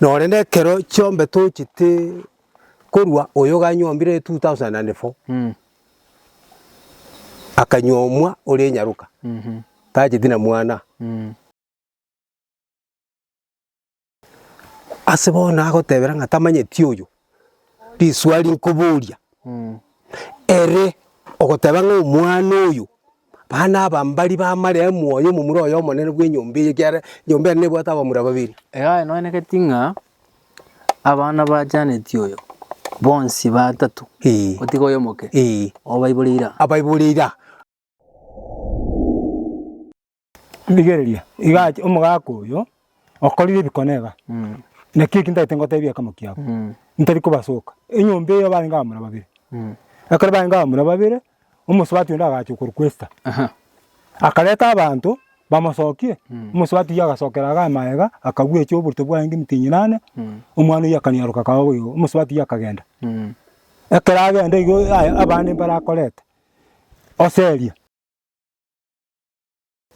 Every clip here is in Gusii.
Na ore nekero chiombe tochete korua oyo ganyombire 2004 akanyomwa ore nyaroka tacheti na mwana. Ase bono agotebera ng'a tamanyeti oyo, riswali nkoboria, ere ogoteba ng'a omwana oyo, bana aba mbari bamarea omwoyo omomura oye omonene bw'enyomba eye ekiagera enyomba ere nebwate abamura babere. Iga aye noenegeti ng'a abana ba Janeti oyo bonsi batato, Ee. gotiga oyo omoke, Ee. obaibore ira. Abaibore ira. Rigereria, iga ache omogaka oyo okorire ebikone iga, naki eki ntagete ngotebie eke mokia abo, ntari kobasoka. Enyomba eyo barenge abamura babere, ekero barenge abamura babere, omosubati onde agacha okorokwa Esta, akareta abanto bamosokie, omosubati oyio agasokera iga amaega, akabwecha oborito bwaye ng'emiti enyinane, omwana oyio akanyaroka akaba boigo, omosubati oyio akagenda. Ekero agenda igo aya abande mbarakorete, oseria.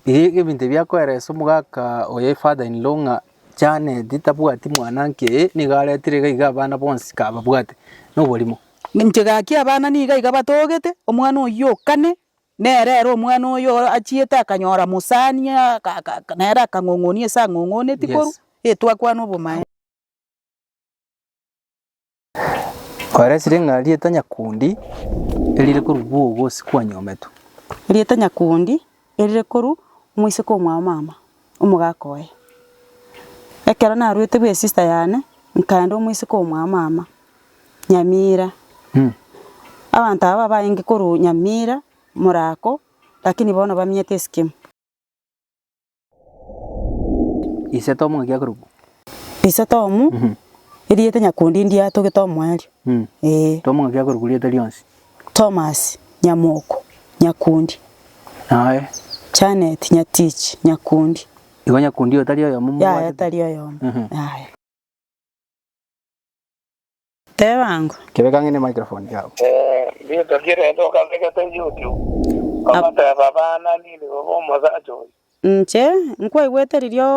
Iga ebinto ebi akoeresa omogaka oye father in law ng'a Janet tabwati mwananke eye, nigo aretire iga iga abana bonsi kababwate noborimo. Inche gaki abana nigo iga batogete, omwana oyio o kane, nere ere omwana oyo achiete akanyora mosani aka aka aka nere akang'ong'onia ase ang'ong'oneti korwa, Yes. e twakwana obomaene. Oresire ng'a rieta nyakundi erire korwa bwogo ase kwanyometwe. Rieta nyakundi erire korwa moiseke omwao mama, omogaka oye. Ekero naruete bwe sister yane, nkaenda omoiseke omwao mama, Nyamira. Abanto aba abaenge korwa Nyamira, Murako, lakini bono bamenyete Esikimo. Ise tomo ng'aki akorokwa. Ise tomo, erieta nyakundi ndiye atogete omoerio. Ee. Tomo ng'aki akorokwa rieta rionsi. Tomasi, nyamoko, nyakundi. Naye. Janet, nyatichi, nyakundi. Igo nyakundi oyo tari oyomo mobwatete? Yaya, tari oyomo. Yaya. Teba ang'o? Rituko ri'Ekerecha okabegete YouTube, ogateba, Abana, ninde bobe omosacha oyo? Inche nkwaigwete riria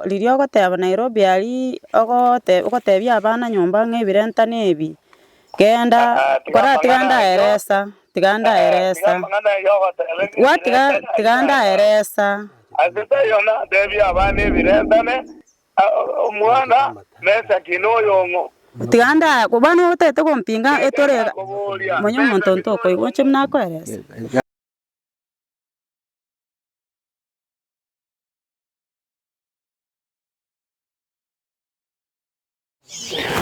riria ogoteba Nairobi aria ogote ogotebia abana nyomba ng'a ebirentano ebi genda koratiga ndaeresa tiga ndaeresa gwatiga tiga ndaeresa. Ase taiyo natebia abana ebirentane Omwana Mesaki noyong'o? Tiga ndaaye ko bono otagete gompinga etore iga monywe omonto onto okoigwa oche buna akoerese.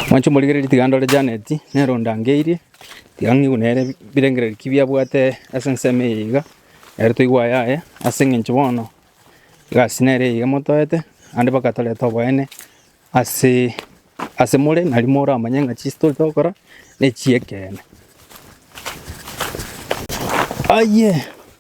Mwanche omorigererie tiga ndore Janet, nere ondangeirie, tiga ng'igwe nere birengererio ki biabwate ase ensemo eye iga, ere toigwe aye aye, ase eng'encho bono egasi nere eye iga motoete, naende mpaka torete oboene ase ase more, nari moramanye ng'a chi ase tore togokora ne chi'ekeene. Ayie.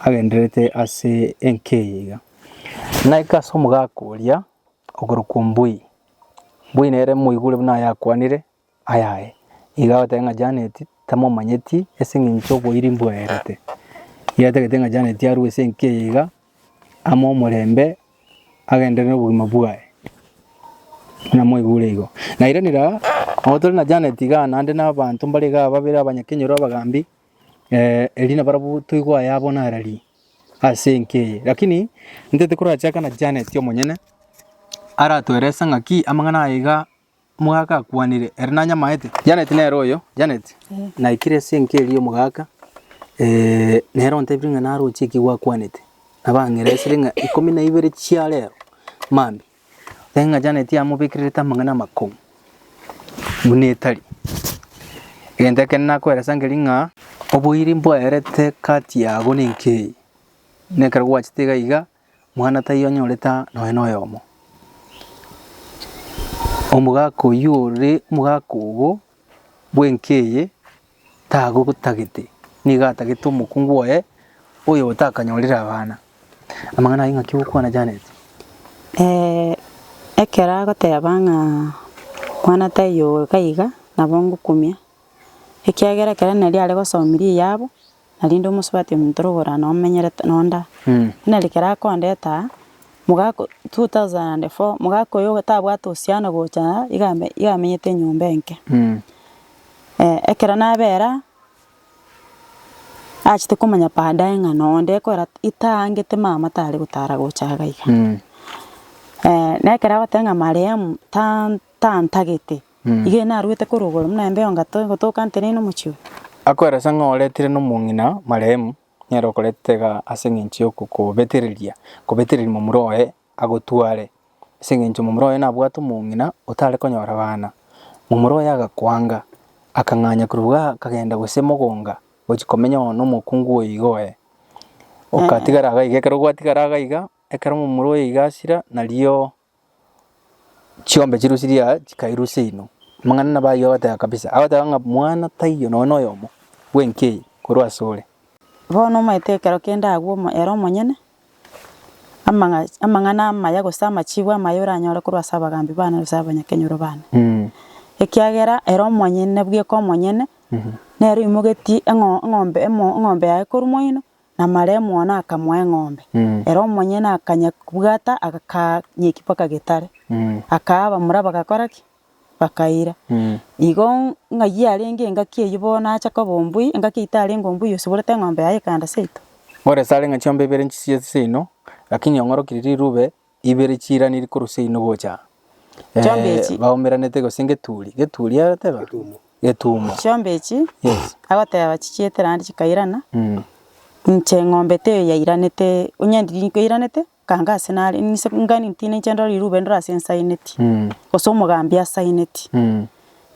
agendererete ase enkeiga. Naika ase omogaka oria okorokwa Mbui. Mbui nere moigure buna ayakwanire ayaye. Iga agoteba ng'a Janet tamomanyeti ase eng'encho oboiri mbwaerete. Iga atagete ng'a Janet arue ase enkeiga ame omorembe agenderere nobogima bwaye. Buna moigure igo. Nairani raa, nabo tore na Janet igaa naende na abanto mbare igaa babere abanyakenyoro abagambi, Erio nabarabwo toigwa aya abwo narari ase enka eye. Lakini intete korachaka na Janet omonyene, aratoerese ng'aki amang'ana aya iga omogaka akwanire ere nanyamaete. Janet nere oyo, Janet, naikire ase enka eria omogaka nere ontebire ng'a naroche ekigwa akwanete. Nabang'eresire ng'a ikomi na ibere chia rero mambia Ng'a Janeti yamobekererete amang'ana amakong'u buna etari. Egento ekende nakoeresa nkeria ng'a oboiri mboerete kati yago na enka eye, na ekero gwachete iga iga, mwana taiyo onyorete nonya na oyomo. Omogaka oyio ore omogaka ogo bw'enka eye tagotagete, nigo atagete omokungu oye oyo otakanyorire abana. Amang'ana ayio ng'aki ogokwana Janet? Eh, ekero agoteba ng'a mwana taiyo oyo kaiga, nabo ngokumia, ekiagera ekero nari are gosomia riyabo, narende omosubati omonto orogora na omenyerete nonda, buna ekero akondeta aa, mogaka o- 2004, mogaka oyo tabwate osiano gocha aa, iga ame- iga amenyete enyomba enke. ekero nabera aa, achete komanya baadaye ng'a nonde ekorera itaangete mama tare gotara gocha iga iga. na ekero agote ng'a marehemu tan- tantagete. Iga ere narwete korwa igoro, buna embe y'ongato egotoka nteneine omochie oye. Akweresa ng'a oretire nomong'ina marehemu, nere okoretete iga ase engencho y'okokobetereria kobetereria momura oye agotware, ase engencho momura oye nabwate omong'ina otare konyora bana. Momura oye agakwanga, akang'anya korwa igaa akagenda gose mogonga gochia komenya oo nomokungu oyo iga oye. Okatigara iga iga ekero gwatigara iga iga, ekero momura oye iga asira, nario. chiombe chirusirie aa chikairusia inwe. Amang'ana nabo ayio agoteba kabisa, agoteba ng'a mwana taiyo nonya noyomo bw'enka eye korwa asore. Bono omanyete ekero kende agwo omo ere omonyene, amang'a amang'ana amaya gose amachiigo amaya oranyore korwa ase abagaambi baane gose abanyakenyoro baane. Ekiagera ere omonyene bweka omonyene, nere oimogetie eng'o eng'ombe emo eng'ombe yaye korwa moino, namaremu one akamoa eng'ombe. Ere omonyene akanyebwata akanyeki mpaka getare, akaa abamura bagakora ki? Bakaira. Igo ng'ai yarenge engaki eyio bono acha koba ombui, engaki eyio tarenge ombui osiborete eng'ombe yaye ekaenda seito. Ore sare ng'a chiombe ibere nchisiesi seino, lakini ong'orokiri rirube ibere chiiraniri korwa seino gocha eh, Chombe echi- baomeranete gose ngeturi geturi agateba getumo Chiombe echi yes agoteba chichietera naende chikairana, mm. inche eng'ombe teiyo yairanete, onye ndiri nkoiranete, kanga ase nare nise ngani ntine inche ndore rirube ndore ase nsaineti, Mm. gose omogambi asaineti. Mm.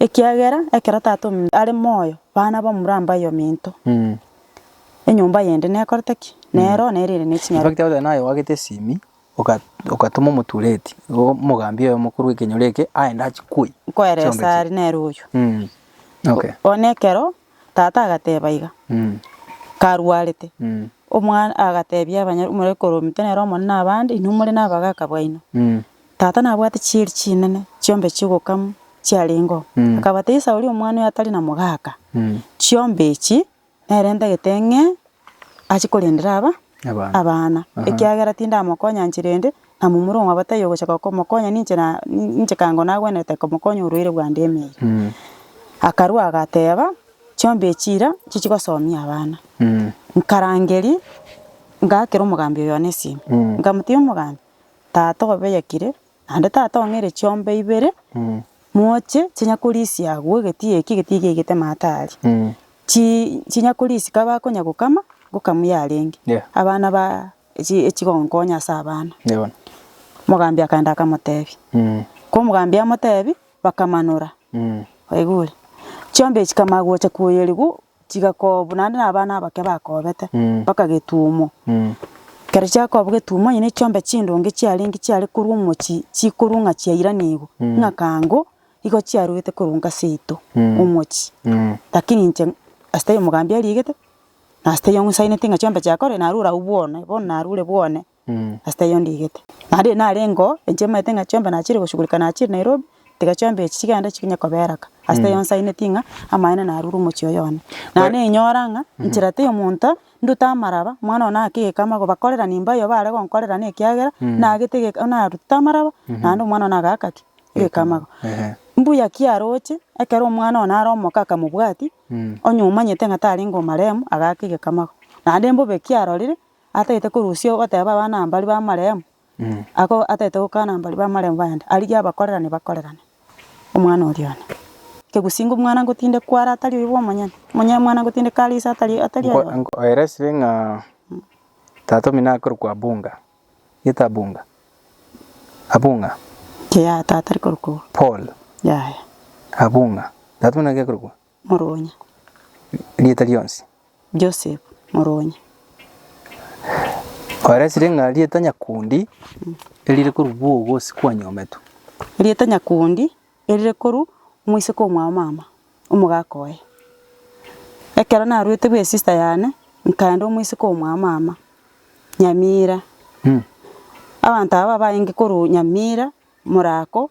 Ekiagera ekero tata ome are moyo, bana bamura mbayominto. Mm. Enyomba yende nekorete ki? Nero nere ere ne chinyarwa. Ebagete goteba naye oagete esimi, oka- okatoma omotureti, igo omogambia oye omokoro bw'ekenyoro eke aende achikwe Nkoere chionsi. esari nere oyo. Mm. Okay. Bono ekero tata agateba iga, Mm. karwarete, Mm. omwana agatebia abanyar- omorwekoro omito nere omonene abande, inwe more nabagaka baino. Mm. Tata nabwate chieri chinene chiombe chi'ogokamwa chiarengeo, akabata Esau oria omwana oye atari na mogaka. Chiombe echi nere ntagete ng'e ache korendera aba abana, ekiagera tindamokonya nchera ende, na momura omwabo taiyo ogochaka komokonya ninche na ninche kango nagwenerete komokonya orwaire bwande emeeri. Akarua agateba, Chiombe echi ira chichi gosomia abana. Nkarangeria, ngaakera omogambi oyo one esimi, nkamotebia omogambi, tata obeyakire, naende tata ong'eire chiombe ibere, moche chinya korisia agwo egeti eki, egeti eki yaigete maata aria, chi- chinya korisia kaba akonya gokama, ngokamu yarenge, Yeah. abana ba echi- echigonkonya ase abana. Eeh bono. Mogambi akaenda akamotebia, ko omogambi amotebia, bakamanora, waigure, chiombe echi kama gocha koyerigwa chigakobwa naende na abana abake bakobete, mpaka getuomo. Ekero chiakobwa getuomo onye nechiombe chindonge chiarenge chiare korwa omochie chikorwa ng'a chiairanigwe, ng'a kango igo chiaruete koruga seito omochie. Lakini inche ase taiyo omogambi ariegete, na ase taiyo ng'usainete ng'a chiombe chiakorire narure abwo bwone, bono narure bwone. Ase taiyo ndigete. Naende ere nare engo enche maete ng'a chiombe nachire goshugurika nachire Nairobi, tiga chiombe echi chigende chikonye kobeera ka. Ase taiyo nsaineti ng'a amaene narure omochie oyo one. Naende nainyora ng'a nchera taiyo omonto ndute amaraba, omwana one aake egekama gobakorerani mbayo bare gonkorerana ekiagera nagete egeka narutete amaraba naende omwana one agaaka ki? Egekama igo. Mbuya ki aroche ekero omwana one are omoke akamobwati, onye omanyete ng'a tarenge omaremu agaaka egekama igo. Naende mbobe ki arorire atagete korusia ogoteba abana aba baria b'amarehemu, ako atagete gokana aba baria b'amarehemu baende, arigie abakorerane bakorerane omwana oria one. Kegusii ng'a omwana ngotinde kware atari oyo bw'omonyene, omonyene omwana ngotinde kare ise atari oyo atari oyo. Nkoeresire ng'a tata omino akorokwa Abunga, gete Abunga, Abunga. Yaya tata ari korokwa Paul. Yaya. Abunga. Tata omino naki akorokwa? moruonya. Rieta rionsi. Joseph, moruonya. Oeresire ng'a rieta nyakundi erire korwa bwogo ase kwanyometwe. Rieta nyakundi erire korwa omoiseke omwao mama, omogaka oye. Ekero naruete bwe sister yane nkaenda omoiseke omwao mama, Nyamira. Abanto aba babaenge korwa Nyamira, Morako,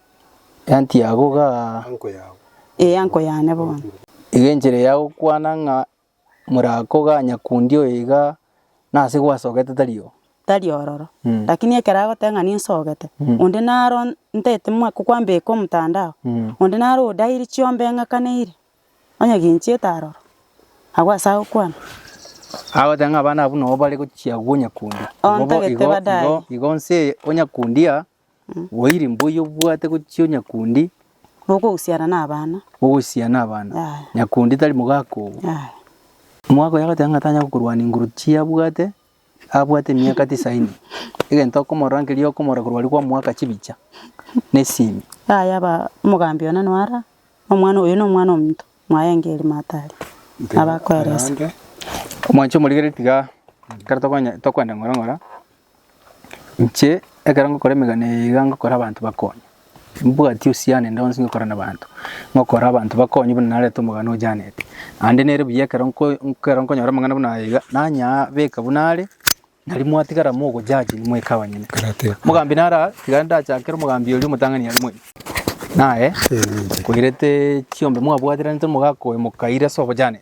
Eanty yabo ga. Ee, anko yane bono. Iga enchera ya gokwana ng'a morako ga nyakundi oyo iga nase gwasogete tari oo. Tari ororo. Lakini ekero agoteba ng'a ninsogete, onde naro ntete mwa kokwambeka omotandao, onde naro odairi chiombe eng'akaneire, onye ginchiete aroro, agwo ase agokwana. Agoteba ng'a abana abwo nabo bare gochia agwo nyakundi. Ontagete badaye. Igo nse o nyakundi aa. Bwairi mbuya obwate gochia o nyakundi. Bokogosiana na abana. Bokogosiana na abana. Yaya. Nyakundi tari mogaka obo. Yaya. Moagoya goteba ng'a tanya gokorwania inguru chiabwate abwate emiaka tisaini. Egento okomorora nkeria okomorora korwa aria kwamoaka chibicha na esimi. Yaya ba omogambi one noara omwana oyo nomwana omonto mwaye ngeri matari nabakoeresa. Omwanche omorigereria tiga ekero tokonya tokoenda ng'ora ng'ora. Inche ekero ngokora emegano eye iga ngokora abanto bakonye, mbwati uhusiano ende yonsi ngokora nabanto, ngokora abanto bakonye buna nareta omogano o Janet. Naende nere buya ekero nko ekero nkonyora amang'ana buna aya iga, nanyaa beka buna are, nari mwatigara mogo judge moika abanyene. Mogambi nara tiga ndachakere omogambi oria omotang'ani aria moika, naye koirete chiombe mwabwateraniete omogaka oyo mokaire ase obo Janet.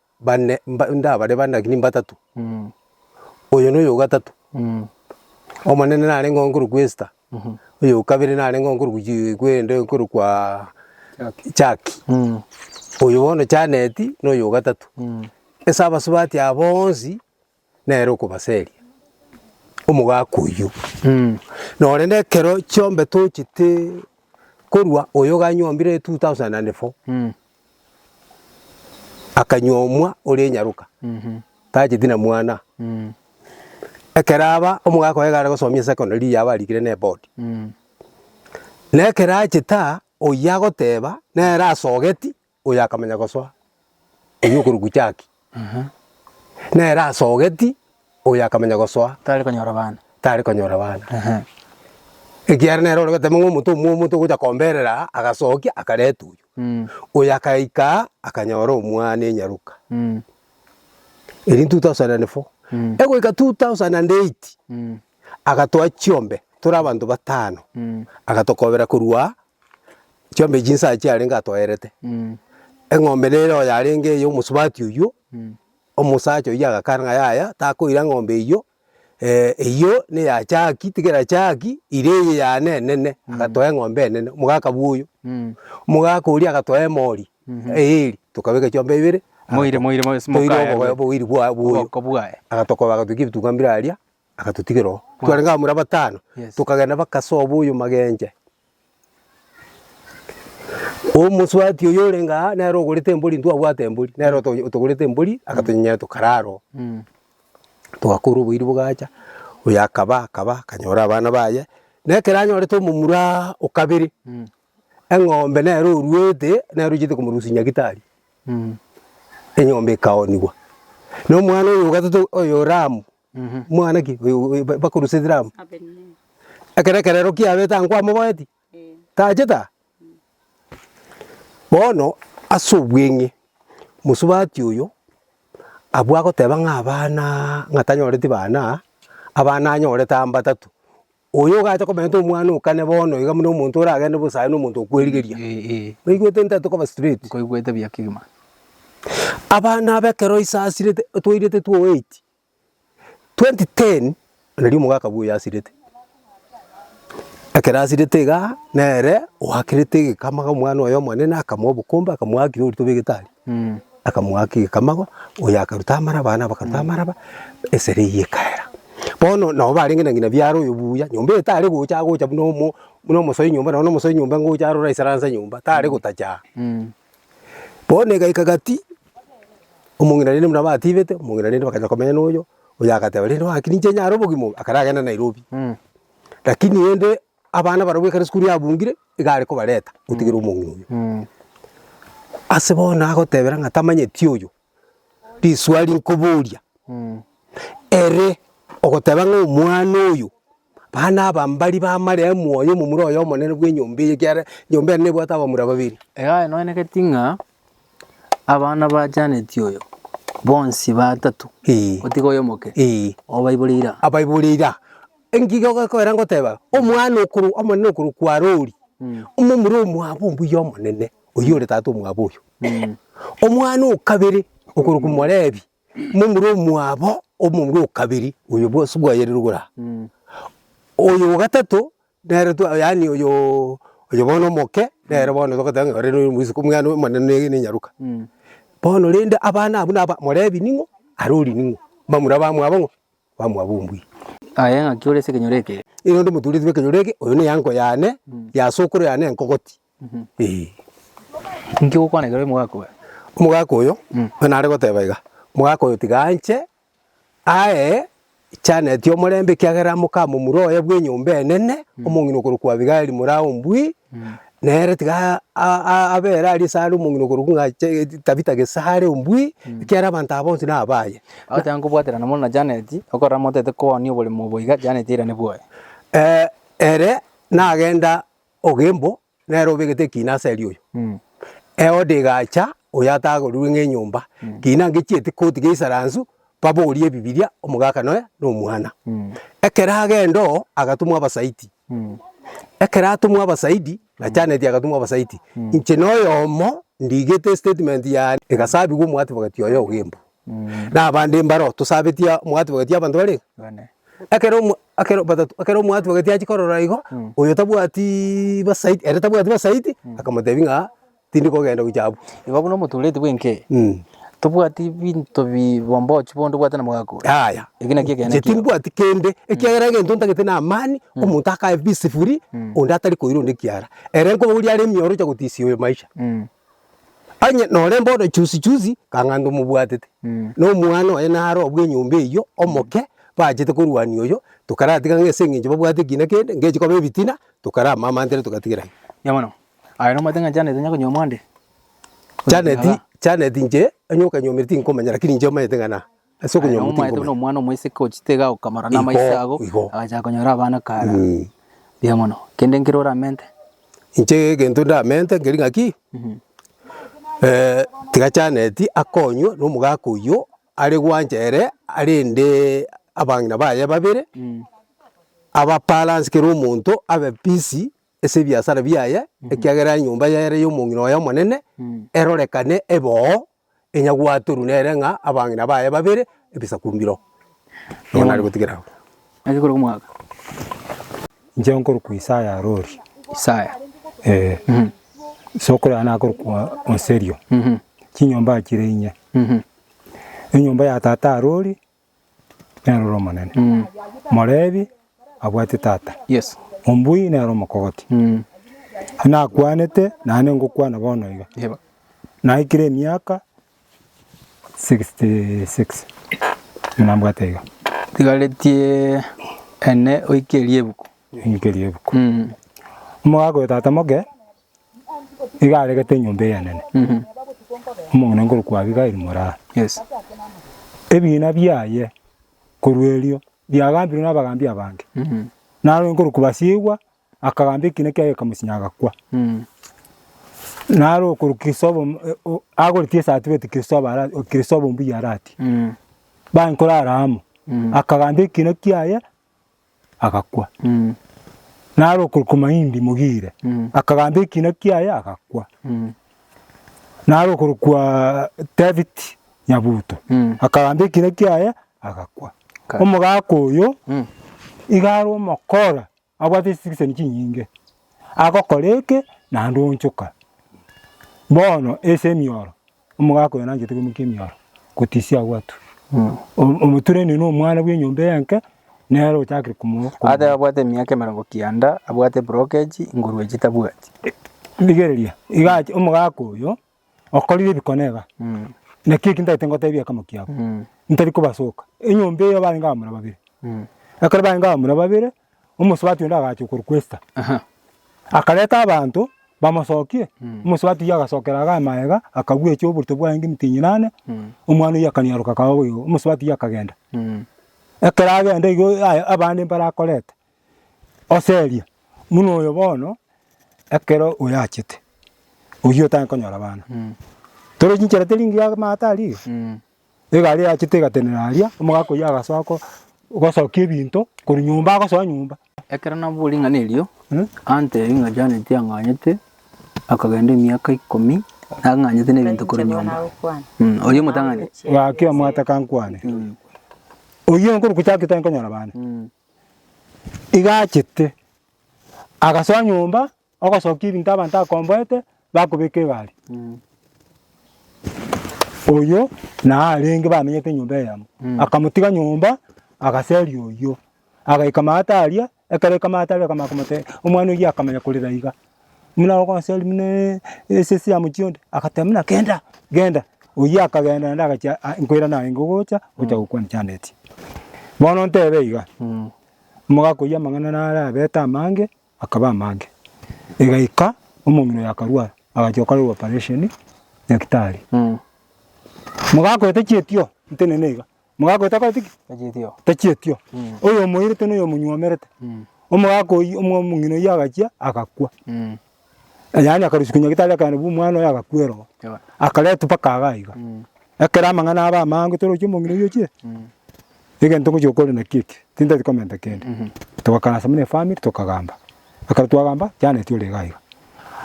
bane, mba, ndabare bane lakini mbatato, oyo noyo ogatato, omonene narenge oo nkorokwa Esther, oyo okabere narenge oo nkorokwa Ji- kwende nkorokwaa Jackie, oyo bono Janet noyo ogatato. Ase abasubati aba boonsi. nere okobaseria omogaka oyio. Norende ekero chiombe tochete korwa oyo ganyombire 2004 akanyomwa oria enyaroka tacheti na mwana. Ekero aba omogaka oye iga aragosomia secondary eria yaba arikire ne board. Nekero achete aa oyio agoteba nere asogeti Oyo akamanya gosoa, oyio okorokwa Jackie, nere asogeti, oyo akamanya gosoa. Tari konyora bana. Tari konyora bana. Ekiagera nere ore gotema ng'a omonto omwomo togocha komberera, agasokia akareta oyio. Oyo akaika aa, akanyora omwana enyaruka. Erio two thousand and four. Egoika two thousand and eight, agatoa chiombe tore abanto batano, agatokobera korwa Chiombe chinsa chiarenge atoerete, eng'ombe nere oyarenge eye omosubati oywo, omosacha oywo agakana ng'a yaya takoira eng'ombe eywo, eywo neya Jackie, tigera Jackie ira eye yane enene, agatoa eng'ombe enene, omogaka bwa oyo, omogaka oria agatoa emori eeri, tokabeka chiombe ibere, Moire moire moire ase toire mokaye obogoe oboiri bwa bwoyo, oboko bwaye. agatokoba agatukia ebituga mbire aria, Agatotigera oo. Twarenge abamura batano, tokagenda mpaka ase obo oyomagenche. Omosubati oyo orenge aa nere ogorete embori, intwe twabwate embori, nere oto- otogorete embori, agatonyenyera tokarara oo. Togakora oboiri bogacha, oyo akaba, akaba, akanyora abana baye, na ekero anyorete omomuraa o kabere, eng'ombe nere oruete, nere ochiete komorusia nyagitari, enyomba ekaonigwa. Na omwana oyo ogateto oyo Ramu. Omwana ki oyo oyo ba- bakorusetera amo? Ekero ekerero kiabete aa nkwamogoeti, tachete aa? Bono ase obweng'e, mosubati oyo abwo agoteba ng'a abana ng'a tanyoreti bana, abana anyorete aa mbatato. Oyo ogacha koberenta omwana o kane bono iga buna omonto oragende bosa aye na omonto okwerigeria. Oigwete nta tokoba straight? Nkoigwete buya kegima. Abana aba ekero isasirete toirete two eight, 2010 nario omogaka bwo yasirete, ekero asirete igaa nere oakerete egekamago omwana oye omonene akamoa obokombe akamoa ki orito bwa egetari akamoa ki egekamago oyo akaruta amara abana bakaruta amara ba esere eywo ekaera. Bono nabo barenge na ng'ina biara oyo buya nyomba eye tare gocha agocha buna omo buna omosoi nyomba nonye na omosoi nyomba ngocha aroro aisaranse nyomba tare gotacha aa. Bono egaika gati, omong'ina rende buna batibete, omong'ina rende bakanya komenya noyo, oyo agateba rende gaki ninche nyare obogima obo, akare agenda Nairobi. Rakini rende abana barobwo ekero esukuru yabungire, iga are kobareta gotigera omong'ina oyo. Ase bono nagotebera ng'a tamanyeti oyo, riswali nkoboria, ere ogoteba ng'a omwana oyo, abana aba mbari bamareo moyo momura oye omonene bw'enyomba eye ekiagera enyomba ere nebwate abamura babere. Egaka enwenereti ng'a abana ba Janet oyo bonsi batato, Ee. gotiga oyo omoke, Ee. obaibore ira. abaibore ira. Engaki gekoera ngoteba, omwana okorokwa omonene okorokwa Rory, omomura omwabo mbuya omonene, oyio ore tata omwabo oyo. Omwana o kabere okorokwa Morebi, momura omwabo omomura o kabere, oyo bwose bwayeire rogoro aa. Oyo o gatato nere twa yaani oyoo oyo bono omoke, nere bono togoteba ng'a ore noyo mwisuku omwana omonene na enyaroka. Bono rende abana abwo naba Morebi ning'o, Arori ning'o, bamura bamwabo ng'o, bamwabo ombuya. Aye ng'aki ore ase ekenyoro eke? Nigo ndomoturetwe ekenyoro eke, oyo neya enko yane, ya sokoro yane enkogoti. Inki gokwana ekero omogaka oyo. Omogaka oyo buna are goteba iga, omogaka oyo tiga anche ae chaneti omorembe ekiagera moka momura oye bwa enyomba enene, omong'ina okorokwa Abigaili mora ombui, nere tiga abe ere aria sare omong'ina okorokwa ng'a Tabitha gesare ombui, ekiagera abanto aba bonsi nabaye. Agoteba nkobwaterana mono na Janeti, okorora motaete koonia oboremo obo iga, Janeti airane bwoye. Ere nagenda Ogembo nere obegete ekina ase erio oyo. Eode egacha oyo atagorirwe ng'a enyomba, kina ngechieti koti geisaransu baborie ebibiria omogaka nonya na omwana. Ekero agenda oo agatumwa abasaiti. Ekero atumwa abasaidi, na Janet agatumwa abasaiti, inche na oyomo ndigete estatement yane egasabigwa omwati bagatia oyo Ogembo. Na abande mbaro tosabetie mwatubageti abanto bare Bane. Ekero omo ekero batato ekero mwatubageti achia korora igo Mm. oyo tabwati basaiti ere tabwati basaiti akamotebia ng'a tindi kogenda gochia abwo. Igo buna omotureti bw'enke, Mm. tobwati binto bi bombochi bondo obwate na mogaka ore. Yaya. Eki nakio ekeene Inche kiago. timbwati kende, ekiagera egento ntagete na amani, omonto akae bisifuri, onde atari koira onde ekiara. Ere nkobogoria are emioro ocha gotisia oyo maisha. Mm. Onye nore bono chuzi chuzi kang'ato mobwatete, na omwana oye naro obwe enyomba eywo omoke, bachete korwania oyo, tokaratiga ng'a ase eng'encho babwate ekina kende, ngechi koba ebitina, tokaramamantere togatigera aye. Erio bono, aye nomanyete ng'a Janet onya konyomwa onde? Janet, Janet inche, onye okanyomire tinkomanya, lakini inche omanyete ng'a na. Ase Aye okonyora nomoeto buna omotikomanya. omwana omoiseke gochitega gokamora Igo, namaiso ago, igo. agachaka konyora abana kare. Mm. Mbuya mono. Kende nkere oramente? Inche egento ndamente nkeri ng'aki, eh, tiga Janet akonywe na omogaka oyio are gwancha ere arende abang'ina baye babere, aba balance kera omonto abe busy ase ebiasara biaye, ekiagera enyomba ere ya omong'ina oye omonene erorekane ebe oo enyagwatorwe nere ng'a abang'ina baye babere ebisaku mbiro. Nigo nare gotigera agwo. Naki korwa omwaka. Inche nkorokwa Isaya Arori. Isaya. Ee. Isokoro yane akorokwa Oserio. Chinyomba achire inye. Enyomba ya tata Arori. nere or'omonene, morebi abwate tata, ombui nere omokogoti, nakwanete naende ngokwana bono iga, naikire emiaka sixty six buna mbwate iga. Tigaretie ene oike riebuku. Oike riebuku. Omogaka oyo tata moke. Nigo aregete enyomba eyenene, omong'ina nkorokwa Abigaili moraa. Ebina biaye korwa erio biagambirwe nabagambi abange, narwete nkorokwa Basiegwa akagamba ekina kiaye akamosinya agakwa. Naro okorokwa Kristofa o- agoretie esati bwetie Kristofa ara Kristofa ombuya aratie, bankore Aramu, akagamba ekina kiaye. agakwa. Naro okorokwa Mahindi Mogire akagamba ekina kiaye agakwa. Naro okorokwa David Nyabuto akagamba ekina kiaye agakwa. Omogaka oyo iga are omokora abwate citizen chinyinge agokora eke naende oonchoka. Bono ase emioro. Omogaka oyo nanchete koimokia emioro gotisia agwo atu. Omoturania na omwana bw'enyomba eye enke nere ochakire komo... Aate abwate emiaka emerongo kianda abwate ebrokeji igoro ya chitabwati. Rigereria, iga ache omogaka oyo okorire ebikone iga, naki eki ntagete ngotebie ekemo kiabo, ntari kobasoka. Enyomba eyo barenge abamura babere. Ekero barenge abamura babere. Omosubati onde agachia okorokwa Esta, akareta abanto bamosokie. Omosubati oyio agasokera Hagai magega, akabwecha oborito bwaye ng'emiti enyenane, omwana oyio akanyaroka akaba boigo. Omosubati oyio akagenda. Ekero agenda igo aya abande mbarakorete, ase eria buna oyo bono ekero oyo achete, oyio otagete konyora abana. Tore chinchera teri ngiya amato aria iga. Egari eyachete egatenena aria, omogaka oyio agasoa ko- gosokia ebinto korwa nyomba agosoa nyomba. Ekero nabwoire ring'ana erio, anteebia ng'a Janet ang'anyete akagenda emiaka ikomi nang'anyete nebinto korwa nyomba. Mh, oyio omotang'ani. Gaki omwata kankwane, oyio nkorwa gochaka ekero nkonyora abana, Mh. iga achete, agasoa nyomba Ogosokia ebinto abanto akomboete, bakobeka egari. Oyio naye arenge bamenyete enyomba eyemo, akamotiga nyomba agaseria oyio. Agaika maate aria, ekero aika maate aria akamanya komotebia, omwana oyio akamanya korera iga, buna ogoseria buna esese ya mochie onde, agateba buna genda, genda. Oyio akagenda naende agachia a- nkoira narenge ogocha, ogocha gokwana chianda echi. Bono ntebe iga, omogaka oyio amang'ana naro abete amange. Akaba amange. Egaika omong'ina oye akarwara, agachia gokorerwa operation nyagetari. Mogaka oye tachietio, ntenene iga. Mogaka oye takoreti ki? Tachietio. Oyomoirete na oyomonywomerete. Omogaka oyio, omo- omong'ina oyio agachia agakwa. Yaani akarusia nyagetari akaenda bu omwana oye agakwa ere oo. Akaretwa mpaka iga iga. Ekero amang'ana abe amange toroche omong'ina oyio ochire, egento ngochia gokora nakio eke, tintati komenta kende. Togakaransa buna efamiri tokagamba, ekero twagamba Janet ore iga iga.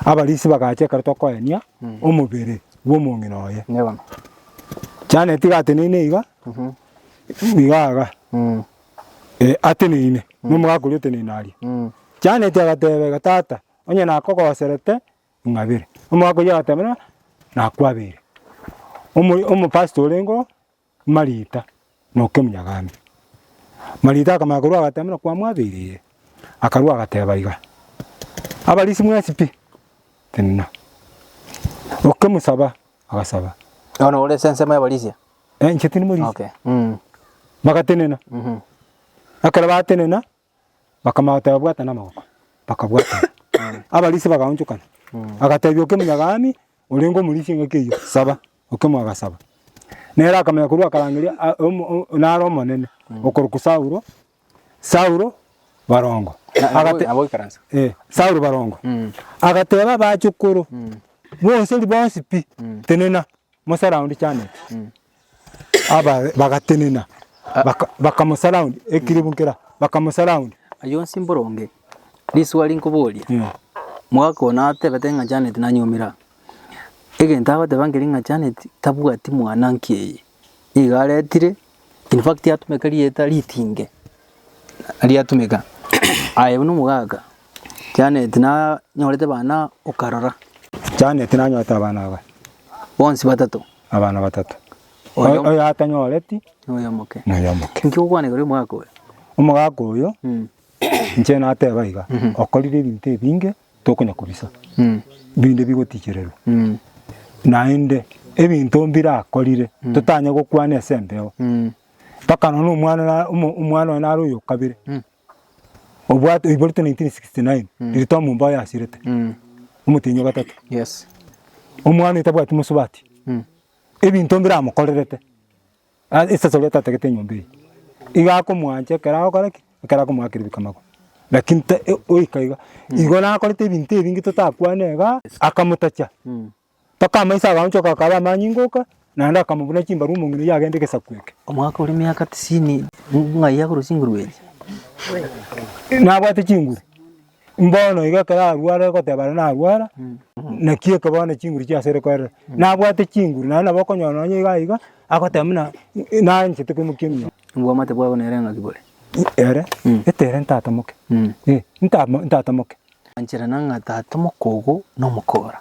Abarisia bagacha ekero tokoenia omobere bw'omong'ina oye. Janet iga ateneine iga, iga iga, ateneine, nomogaka oria oteneine aria. Janet agateba iga, tata, onye nakogoserete, ng'abere. Omwaka oyio agateema, Nakwabeire omopastor orengeo Marita, na okemunyagambe. Marita akamanya korwa agateema kwamwabeire, akarua agateba iga, Abarisi mwensi pi? Tenena. Okemosaba, agasaba. Bono ore ase ensemo y'abarisia? Eh, inche tindi morisia. Okay. Mm. Bagatenena. Mhm. Ekero batenena, Bakamanya goteba, Bwata namagoko. Bakabwatana. Abarisia bagaonchokana. Agatebia okemunyaga Ami, orenge omorisia engaki eyio, Saba. Okemoa agasaba. Nere akamanya korwa akarangeria a- omo- o- o- nare Omonene, okorokwa Saulo, Saulo barongo. Agate- Agoikaransa. Eh, Saulo barongo. Agateba abachokoro, Bonsi ribonsi pi, tenena, mosara onde chaneti. Aba bagatenena, baka- bakamosurround, ekiribu nkera, bakamosurround. Ayio onsi mboronge, riswali nkoboria, mwaka oyo natebete ng'a Janet nanyuomera. Egento agoteba nkeri ng'a Janet tabwati mwana nki'eye, nigo aretire, in fact atumeka rieta ritinge. riatumeka. Aye buna omogaka Janet nanyorete bana okarora. Janet nanyorete abana aba. Bonsi batato. Abana batato. Oyo- Oyo atanyoreti Noyomoke. noyomoke. Inki ogokwanegera oyo omogaka oyo? Omogaka oyo Mm. inche nateba iga, okorire ebinto ebinge tokonya kobisa, Mm. binde bigotichererwa. Mm. Naende ebinto mbirakorire totanye gokwana ase embeo. Mm. Mpaka nonya omwana na omwana oye nare oyo kabere Mm. obwate oiborete 1969 riria twamomba oye asirete Mm. omotenyi o gatato Yes. omwana oyo tabwati mosubati Mm. ebinto mbiramokorerete a- esaso riaye tatagete enyomba eye iga akomwancha ekero agokora ki ekero akomoakera ebikamagwa lakini ta- e- goika iga igo nakorete ebinto ebinge totakwane igaa akamotacha Mm. Mpaka amaiso agaonchoka akaba amanyinga oka, naende akamobuna chimbaru omong'ina oyio agende egesaku eke. Omwaka oria emiaka tisini ng'ai agorwe chinguru echi? Nabwate chinguru, mbono iga ekero arware goteba are narwara, naki eke bono chinguru chiasore koerera. Nabwate chinguru naende nabo okonyora nonye iga iga, agoteba buna naanchete koimokia emiya. Obwamate bwabo nere ng'aki bore? Ere, etere ntatamoke, eh, ntamo- ntatamoke. Ancherana ng'a tatamoka ogo nomokora.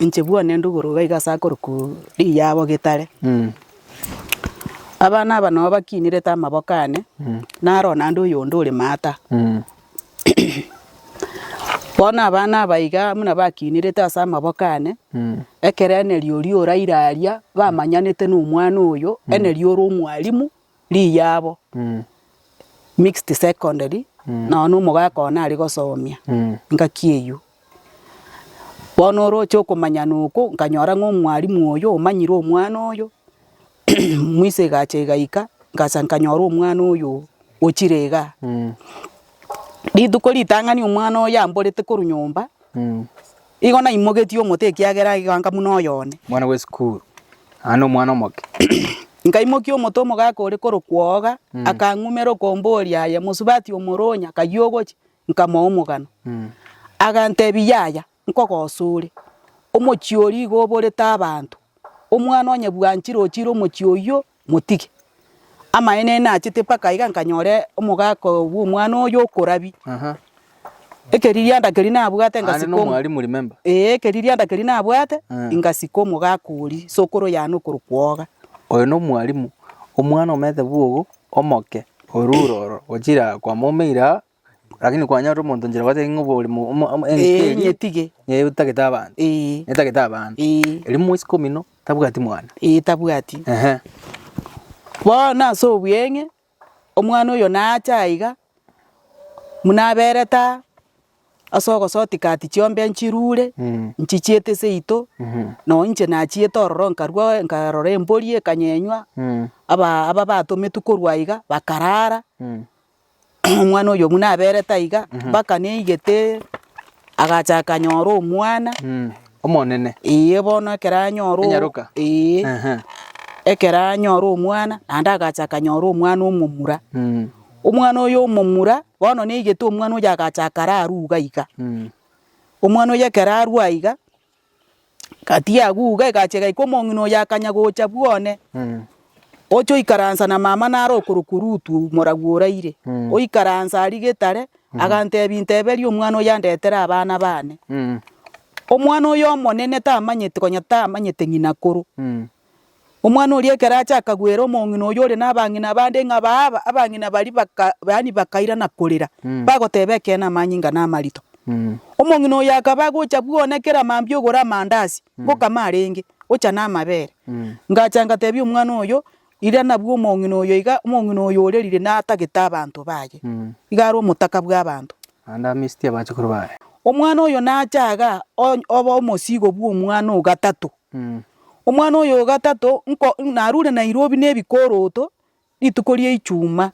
Inche buna nende obororo iga iga ase akorokwa riyabo getare. Abana aba nabo bakinerete amaboko ane, naro naende oyonde ore maata. Bono abana aba iga buna bakinerete ase amaboko ane, ekero enerio oria oraire aria bamanyanete na omwana oyo, enerio ore omwalimu. Riyabo, mixed secondary, nonya na omogaka one aria gosomia, engaki eyio. Bono oroche okomanyana okwo, nkanyora ng'a omwalimu oyo omanyire omwana oyo, mwise egacha egaika, ngacha nkanyora omwana oyo ochire igaa. Rituko ritang'ani omwana oyo amborete korwa nyomba. Igo naimogetie omote ekiagera egekanka buna oyo one. Mwana bwe sukuru, aye nomwana omoke. Nkaimokia omote omogaka ore korokwa Oga, akang'umera okomboria aye mosubati omoronya akayia ogochia, nkamoa omogano. Agantebia yaya, nkogosa ore, omochie oria igo oborete abanto, omwana onye bwanchire ochire omochie oyio, motige. Amaene aye nachete mpaka iga nkanyora omogaka bw'omwana oyo okorabia. Ekeririanda keria nabwate ngasika omo- Aye nomwalimu remember. Ee ekeririanda keria nabwate, ngasika omogaka oria, sokoro yane okorokwa oga. Oyo nomwalimu, omwana omanyete bwogo, omoke, orure oro, ochire aa kwamoumeire aa, Lakini kwanyorire omonto nchera gwateba ng'a obore mo- omo- omo- engaki Ee, eria nyetige. nigo etagete abanto, Ee, etagete abanto. ee, Erio moisiko omino tabwati mwana. ee, tabwati. Ehe. Bono ase obweng'e, omwana oyo nacha aiga, buna aberete aa, ase ogosoti kati chiombe nchirure, Mm. nchichiete seito, Mhm. nonye inche nachiete ororo nkarwa nkarora embori ekanyenywa, Mm. aba- ababatometwe korwa aiga, bakarara, Mm. omwana oyo buna aberete aiga, mpaka neigete agacha akanyora omwana, omonene, eeh bono ekero anyora o- Enyaroka. eeh Ehe. ekero anyora omwana, naende agacha akanyora omwana omomura, omwana oyo omomura, bono neigete omwana oyo agacha akara arwa iga iga, omwana oyo ekero arwa iga. Gati y'agwo iga egachia egaika omong'ina oyo akanya gocha bw'one, ocha oikaransa na mama nare okorokwa Rutu, moragwo oraire. Oikaransa aria getare, agantebia, Nteberia omwana oyo andetere abana bane. Omwana oyo omonene tamanyeti, konya tamanyete ng'ina akoro, Omwana oria ekero acha akagwera omong'ina oyio ore nabang'ina abande ng'a baaba, abang'ina baria baka, yaani bakaira na korera, bagoteeba ekeene amanyinga namarito. Omong'ina oyo akaba agocha bwona kera mambia ogore amandasi, ngokama arenge, ochane amabere. Ngacha ngateebia omwana oyo, Rira nabwo omong'ina oyo iga, omong'ina oyo ore rire natagete abanto baye, iga are omotaka bw'abanto. Naende amisitie abachukuru baye. Omwana oyo nacha iga, onye- oba omosigo bw'omwana o gatato. Omwana oyo o gatato nko narure Nairobi ne ebikoroto rituko ria Ichuma.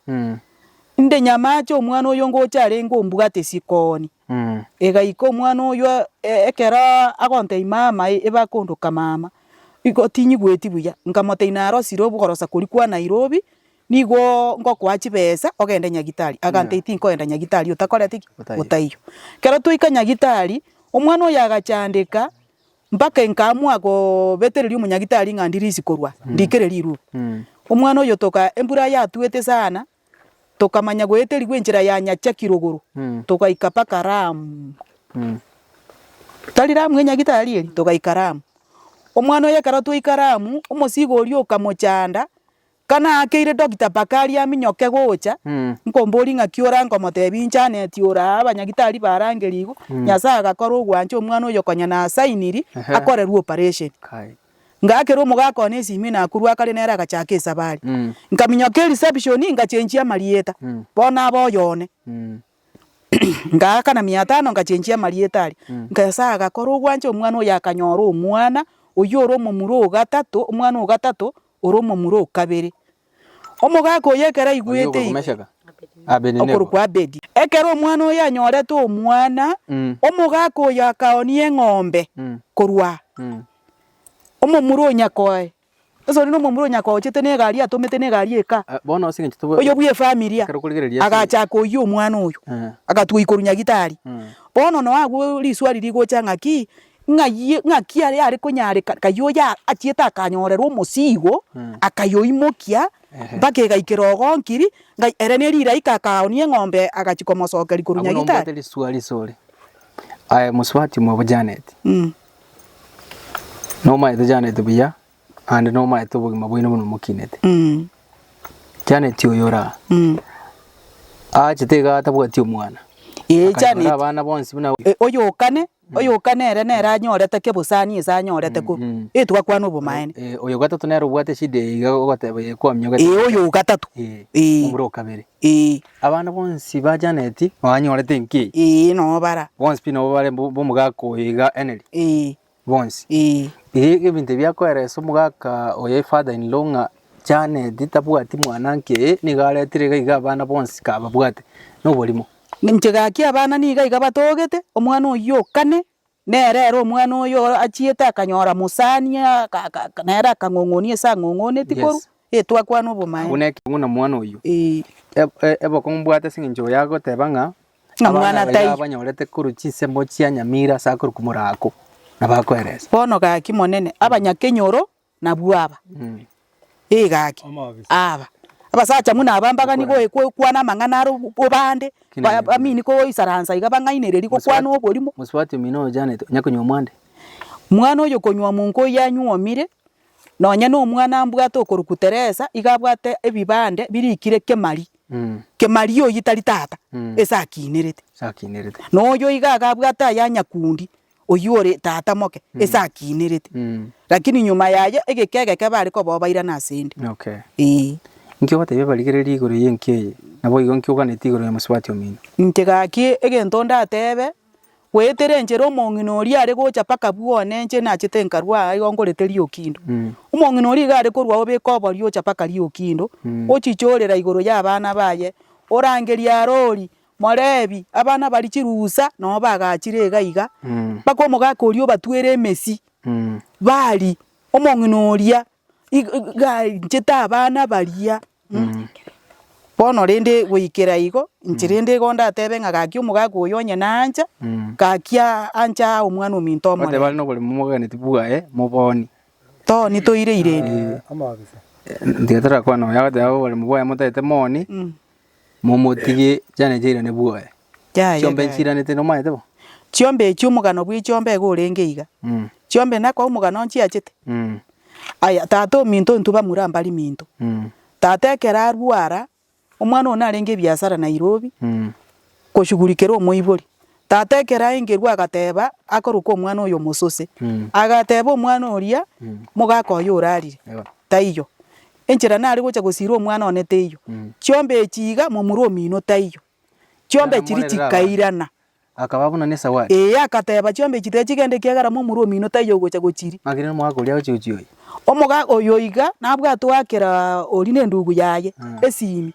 Inde nyamache omwana oyo ngocha arenge ombugate sikoni. Egaika omwana oyo ekero agontei mama ebe akondoka mama igo tinyigweti buya. Nkamotei narosire obogorosa kori kwa Nairobi nigo ngokoa chibesa ogende nyagitari. Agantei tinkoenda nyagitari otakoreti ki? Otaiyo. Kero twaika nyagitari omwana oyo agachandeka. Mpaka nkaamua gobetereria omonyagitari ng'a ndirisi korwa, ndikere rirube. Omwana oyio toka embura yatuete sana, tokamanya goeterigwa enchera ya Nyachaki rogoro, togaika mpaka Ramu. Tari Ramu enyagitari eri, togaika Ramu. Omwana oyio ekero twaika Ramu, omosiiga oria okamochanda, Kanaakeire Dokita Bakari aminyoke gocha, nkomboria ng'aki orankomotebia inchaneti oraa abanyagitari barangerie igo, Nyasae agakora ogwancha omwana oyo konya nasainiri akorerwe oparesheni. Ngaakera omogaka one esimu ime nakorwa akare nere agachaka esabari. Nkaminyoka erisepishoni ngachenchia amarieta, bono aba oyo one. Ngaakana miatano ngachenchia amarieta aria. Nyasae agakora ogwancha omwana oyo akanyora omwana oyio ore omomura o gatato, omwana o gatato ore omomura o kabere. Omogaka oyio ekero aigwete igo, okorokwa Abedi. Ekero omwana oyio anyorete omwana, omogaka oyio akaoonia eng'ombe korwa omomura o nyakoe, Ase onde nomomura onya kwaochete na egari atomete na egari eka. Oyo bwe efamiri a agachaka oyia omwana oyo, agatwa ikoru nyagitari. Bono no agwo risuari rigocha ng'aki, ng'ayie ng'aki are are konyareka kai oyo achiete akanyorerwa omosigo, akayoimokia mpaka egaikera ogonkiri, ngai ere ne riraika akaonia eng'ombe agachia komosokeria korwa nyagitari. Aye mosubati mwa obojaneti. Nomaete chianeti buya naende nomaete obogima bwaino buna mokinete. Chianeti oyo oraa aachete igaa atabwati omwana. Ee Akanyora chianeti. abana bonsi buna E, oyokane oyokane ere nere anyorete kebosani ase anyorete ko Mm. e twakwana obomaene Eh, oyo gatato nere obwate eshida eye iga ogoteba ye kwaminyogete. ee oyo ogatato Ee, ee omura okabere. ee Abana bonsi ba Janet banyorete enki? Ee, nobara. Bonsi pi nabo bare bo- b'omogaka oyo iga Henry? Ee, Bonsi? ee. Iga iga ebinto ebi akoeresa omogaka oyo e father in law ng'a Janet tabwati mwana nki eye nigo aretire iga iga abana bonsi kababwate. Noborimo. Inche gaki abana niga iga batogete, omwana oyio o kane. Nere ere omwana oyo achiete akanyora mosani nere akang'ong'onia ase ang'ong'onetie korwa etwakwa nobomaene. Buna eke buna mwana oyio. Ebokong'u mbwate ase engencho oyo agoteba ng'a abana baye abanyorete korwa chinsemo chia nyamira ase akorwa komoraako, na bakoeresa. Bono gaki monene, abanyakenyoro Nabwo aba, ee gaki, aba abasacha buna aba mbagani goe- goe- goekwana amang'ana are obo- obande, ba- bamini koisaransa iga bang'ainereria gokwana oborimo. Mosubati omino oochanete onya konywa omwande. Mwana oyo konywa omonko oyio anyuomire, nonye na omwana ambwate okorokwa Teresa, iga abwate ebibande birikire Kemari, Kemari oyio tari tata, ase akiinerete. Ase akiinerete. Na oyio iga iga abwate aya Nyakundi. oyio ore tata moke ase akiinerete. Lakini nyuma y'ayio egeka egeke bare kobobairana ase 'nde. Ee. Inki ogotebia abarigereria igoro y'enki eye? Naboigo inki oganetie igoro ya mosubati omino? Inche gaki egento ndatebe, goetera enchera omong'ina oria are gocha mpaka bwone inche nachete nkarua aa igo nkorete riokindo. Omong'ina oria iga are korua obeka oborio ocha mpaka riokindo, ochichorera igoro y'abana baye, orangeria arori, Morebi, Abana baria chirusa nao bagachire iga iga, mpaka omogaka oria obatwere emesi, bari, Omong'ina oria iga ainchete abana baria. Bono rende goikera igo, inche rende igo ndatebe ng'a gaki omogaka oyo onye nancha, gaki anche aa omwana ominto omorembe. Bateba are noboremu momoganetie bwaye moboni. Toni toire ireri. Tigati rakwana oyo agateba oboremu bwaye motagete moni. Momotige chiane chiairane bwoye. Yaya, Chiombe yaya. nchiiranete nomaete bo? Chiombe echi omogano bw'echiombe iga orenge iga. Mm. Chiombe nako omogano nchiachete. Mm. Aya, tata ominto intwe bamura mbari minto. Mm. Tata ekero arwara, omwana one arenge ebiasara Nairobi, Mm. koshugurikera omoibori. Tata ekero aengerwe agateeba akorwe kw'omwana oyo omosose. Agateeba omwana oria, Mogaka oyo orarire, taiyo. Enchera nare gocha gosiirwa omwana one teiyo. Chiombe echi iga momura omino taiyo. Chiombe chiri chikairana. Akaba buna nesawari. Ee, agateeba, Chiombe echi tiga chigende ekiagera momura omino taiyo ogocha gochiria. Ng'aki rero omogaka oria agochia gochia oyi? Omogaka oyo iga nabwate oakera oria nendugu yaye esiimi.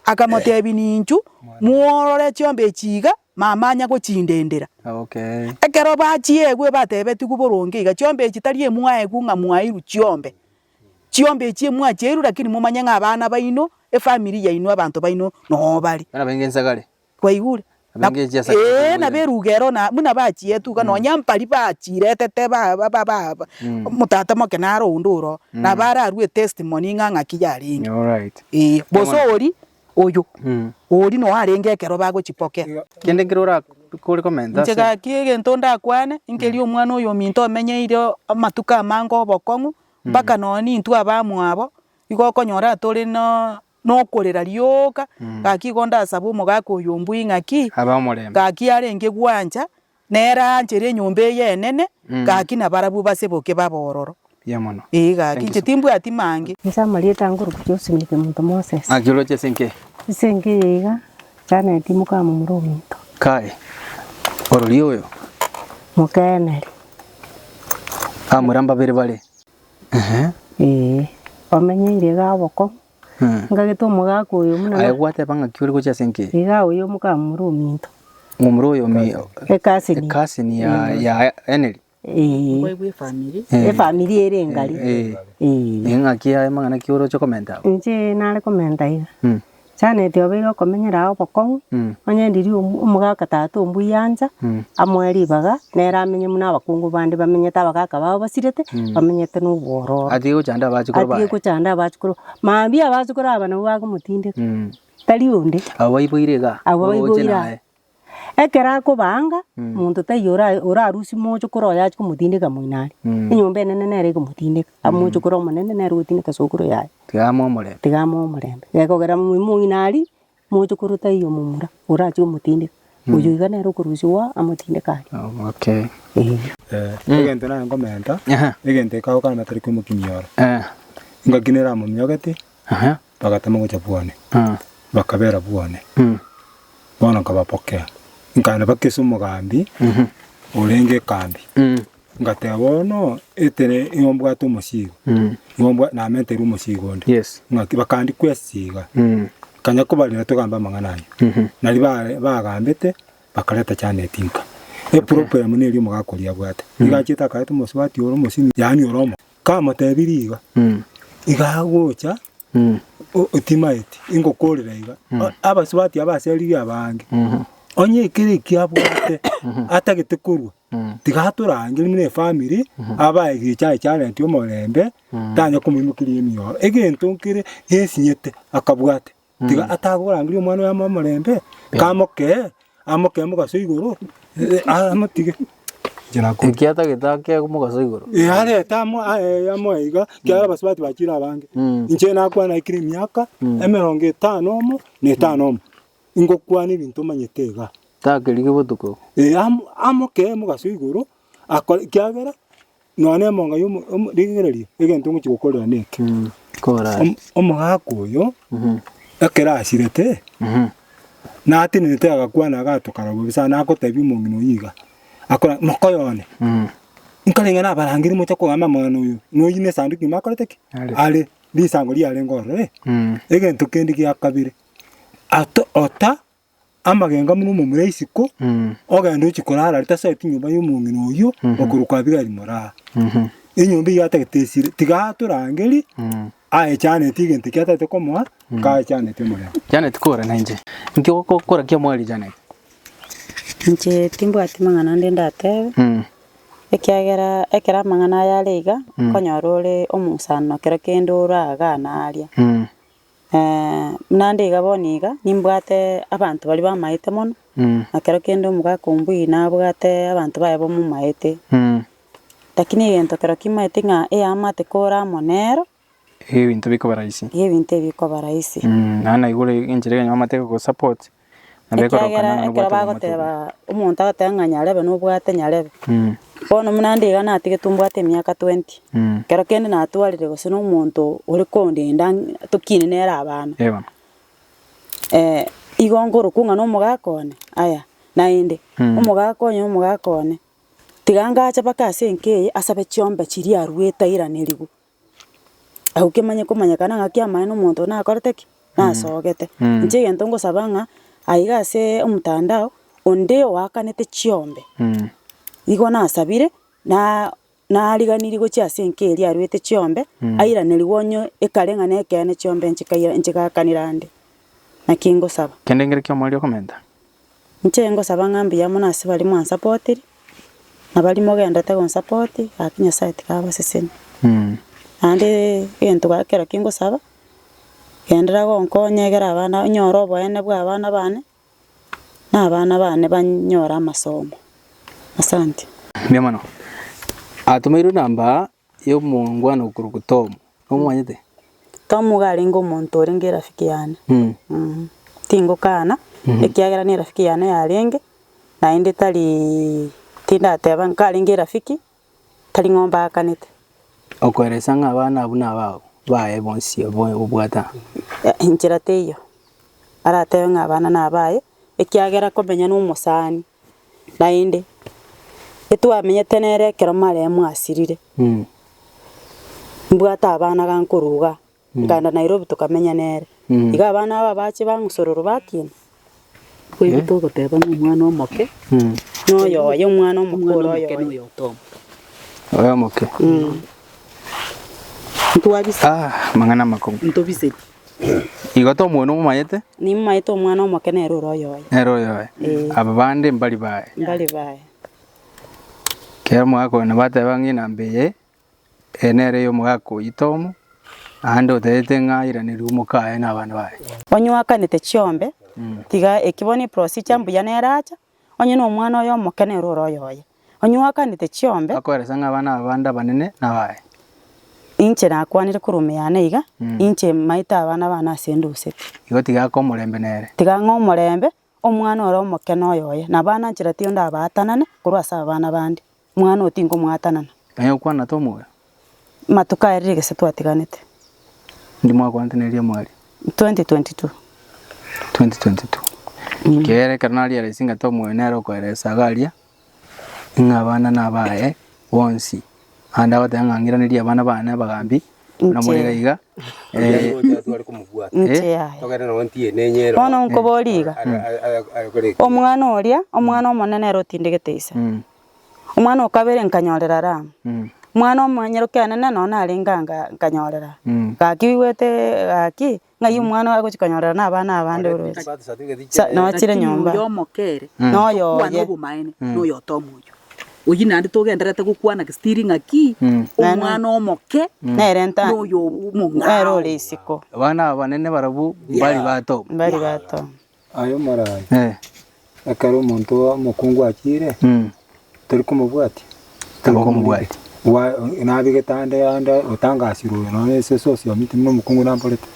Akamoteebia, Ninchu Mworore chiombe echi iga mamanya gochindendera. Ekero bachieigwe batebetigwe boronge iga, Chiombe echi tari emwaegwe ng'a mwairwe chiombe. Chiombe echi emwacheirwe lakini momanye ng'a abana baino, efamiri yaino, abanto baino noo bare. Kwaigure? Ee, nabo eruga ero na buna bachietwe iga, nonya mpari bachiretete ba ba ba omotata moke naro onde oroo, nabo ararue etestimony ng'a ng'aki yarenge. Ee, bosa oria Oyo, oria noyo arenge ekero bagochipokera. Kende nkere orakore komenta Inche ase. gaki egento ndakwane, nkeria omwana oyominto omenyeire amatuko amange obokong'u, mpaka nonya nintwe abamwabo, igo okonyora tore na nokorera rioka, gaki igo ndasabe omogaka oyo ombui ng'aki, Abe omorembe. gaki arenge gwancha, Nere aachere enyomba eye enene, gaki nabarabwo base boke babe ororo. Ee, gaki inche timbwati mange. Inche amarieta ange orokia Josephine monto Moses. Ng'aki oroche ase enka eye? Ase enka eye iga, Janet moka momura ominto. Kae, orori oyo. Moka Emery. Abamura mbabere bare. Eeh. Ee, omenyeire iga obokong'u. Ngagete omogaka oyo buna Aye gwateba ng'aki ore gochia ase enkeeri? igaa oyo mokamura ominto. Momura oyo omi Ecousin. ecousin ya ya Henry. Ee, Mboigwe efamiri. Eh, efamiri ere engari. eh, Ee. eh, ng'aki aye mang'ana ki oroche komenta abwo? Inche nare komenta iga. Mm, Chaneti obeire okomenyera ao bokong'u, mm, onye ndiri omu- omogaka tata ombuya ancha, mm, Amoe ribaga, nere amenye buna abakungu bande bamenyete, abagaka babo basirete, bamenyete nobwororo. Atige gochanda abachukoro baye. Atige gochanda abachukoro baye. Mambia abachukoro aba nabwo bagomotindeka, tari onde. Abwo baiboire iga. Abwo baiboire iga. Ekero akoba anga, monto taiyo orarusie mochokoro oye achie komotindeka moino aria. Enyomba enene nere egomotindeka. Mochokoro omonene nere ogotindeka sokoro yaye. Tiga amoe omorembe. Tiga amoe omorembe. Gekogera moino aria, Moche korwa taiyo omomura orachie komotindeka, oyio iga nere okorusia oa amotindeke aria. Omoke. Egento nare nkomenta, egento gikagoka namatari kw'omokumia oro. Engaki nere amomiogete, bagatama gocha bwane, bakabera bwane. Bono nkabapokea, nkaenda mpaka ase omogambi orenge ekambi. Ngateba, Bono ekere nigo mbwate omosigo, Mm. nigo mbwa- namenteire omosigo onde. Yes. Ng'aki, bakandi kwesiga. Mm. Kanya kobarera togambe amang'ana aye. Mhm. Nari ba- bagambete, bakareta Janet inka. Eproblemu neri omogaka oria abwate. Nigo achiete akareta omosubati ore omosimi, yaani ore omo. Kamotebirie iga, Mm. iga agocha, Mm. o- otimaeti, ingokorera iga. O- Abasubati aba aseririe abange. Mhm. Onye ekere eki abwate, atagete korwa, Tiga torangerie buna efamiri, aba egecho aye chiarenetie omorembe, tanya komoimokeria emioro. Egento nkere esinyete akabwate, tiga atagorangeria omwana oye omorembe, kamokee, amokee mogaso igoro, amotige. Inche nakobua. Eki atagete ake mogaso igoro. Ee, arete amo aye amoe iga, ekiagera abasubati bachire abange. Inche nakwana aikire emiaka emerongo etano omo na etano omo. Ingokwana ebinto omanyete iga. Takerigi botuko. Ee, am- amoke mogaso igoro, akore ekiagera nonya nemonga yomo omo rigererio, egento ngochi gokorera neke. Mm. Kora. Om- omogaka oyo, Mhm. ekero asirete, Mhm. natenenete agakwana agato karobwo bobe sana agotebi omong'ina oyio iga, akora mokoyo one, Mhm. nkarenge nabarangeri moche kogamba amang'ana oyo, noyio nesanduki nyuma akorete ki? Are. Are, risango riarenge ororo eh. Mm. Egento kende giakabere, ato ota amagenga buna omomura isiko, Mm. ogenda ochi korara are tase oti nyomba y'omong'ina oyio, okorwa kwa Abigaili moraa. Mhm. Enyomba eyio atagete esire, tiga atorangeri, Mm. aechaneti egento ekio atagete komoa, kaechaneti omorero. Janet kora na inche. Inki ogokora kia mwari Janet? Inche timbwati mang'ana ande ndatebe, Mm. ekiagera ekero amang'ana aya are iga, okonyora ore omosani nokero kende oragana aria. Mm. Buna nde iga bono iga, nimbwate abanto baria bamaete mono, na kero kende omogaka ombui nabwate abanto baye bamomaete. Lakini egento kero kimaete ng'a eamate kore amo nero, Ebinto bikoba rahisi. igo ebinto ebi bikoba rahisi. Naende naigure enchera ekenyoro bamate gogosupport, Nabo ekoroka Ekiagera nang'ana ekero obwate omotienyi. bagoteba omonto agoteba ng'a nyarebe nobwate nyarebe. Mm. Bono buna nde iga natigetwe mbwate emiaka 20. Mm. Ekero kende natwarire gose nomonto ore kondenda ng'a tokine nere abana. Ee bono. Eh, igo nkorokwa ng'a nomogaka one, aya, naende Mm. omogaka oye nomogaka one, tiga ngache mpaka ase enka eye asabe chiombe chiria aruete airanerigwe. Agwo kemanye komanyekana ng'a ki'amaene omonto nakorete ki? Nasogete. Inche egento ngosaba ng'a, aiga asee omotandao, onde oakanete chiombe, nigo nasabire, naa nariganirie gochia ase enka eria arwete chiombe, airanerigwe onye ekare ng'a nekeene chiombe nchikaira nchigakanera ande. Naki ngosaba. Kende nkere ki'omoerio okomenta. Inche ngosaba ng'a mbuya mono ase baria mwansapotiri, na baria mogendete gonsapoti, gaki Nyasae tikabaseseni. Naende egento ga ekero kingosaba, genderera gonkonya egere abana ba nyore oboene bwa abana bane, na abana bane banyore amasomo. Asante. Mbuya mono. Atomeirwe namba aa. y'omongwana okorokwa Tomu. Nomomanyete? Tomu iga arenge omonto orenge erafiki yane. Mm. Mm. Tingokana, ekiagera nerafiki yane yarenge, naende tari tindateba ng'a karenge erafiki, tari ng'a ombaakanete. Okoeresa ng'a abana abwo nabao baye bonsi obo obwate aa. Eh, enchera teiyo. Aratebe ng'a abana nabaye, ekiagera komenya nomosani. Naende etwamenyete nere ekero maremo asirire, mbwate abana gankoruga nkaenda Nairobi tokamenya nere. Iga abana aba bache bang'usororo bakiina. Kweri togoteba ng'a omwana omoke noyo oye, omwana omoke ore oyo oye. Oyo omoke. Ntwabise. Amang'ana amakong'u. Ntobise. Igo tomwoni omomanyete? Nimomanyete omwana omoke nere ore oyoye. Nere oyoye. Ee. Aba bande mbari baye. Mbari baye. Ekero omogaka oyo nabo ateba ng'a ng'ina mbeye, eye nere ey'omogaka oyio Tomu, naende otagete ng'a airanerie omoka aye na abana baye. Onyoakanete chiombe, tiga eki bono eprosija mbuya nere acha, Onye nomwana oye omokenere ore oyoye, onye oakanete chiombe, Akoeresa ng'a abana aba bande abanene nabaye. inche nakwanire korwa omeyano iga, inche maete abana bane ase enduseti. Igo tiga ake omorembe nere. Tiga ng'e omorembe omwana ore omokene oyoye, na abana nchiratio ndabaatanane korwa ase abana bande. Mwana oo tinkomwatanana. Aye okwana tomoyo. Matuko aya rire gese twatiganete. Ndi mwakwanteneria omwari. 2022. 2022. Ekiagera ekero nariera ase eng'encho omoyo nere okoera esaga aria, ng'a abana nabaye bonsi. Naende agoteba ng'a ng'iranerie abana bane abagambi, buna more iga iga. Inche aye. Bono nkoborie iga, Omwana oria, omwana omonene ere otindegete ise, Omwana o kabere nkanyorera Ramu. Omwana omonyerokianene nonya narenge aa nka- nkanyorera. Gaki oigwete gaki, ng'ai omwana agochia konyorera na abana abande ore ore? Sa- nonya chire nyomba. Oyo omokere Na oyo tokwana oye. obomaene, na oyo otomoyio. Oyio naende togendererete gokwana gestiri ng'a ki, omwana omoke Nere nta- na oyo omong'ao. nere ore isiko. Abana abanene barabwo mbari bato. Mbari bato. Aye omoraabe, ekero omonto omokungu achiire, tori komobwatia? Tori komobwatia. Nabegete ande ande otangasirwe oyo nonya ase esosi ominto buna omokungu namborete.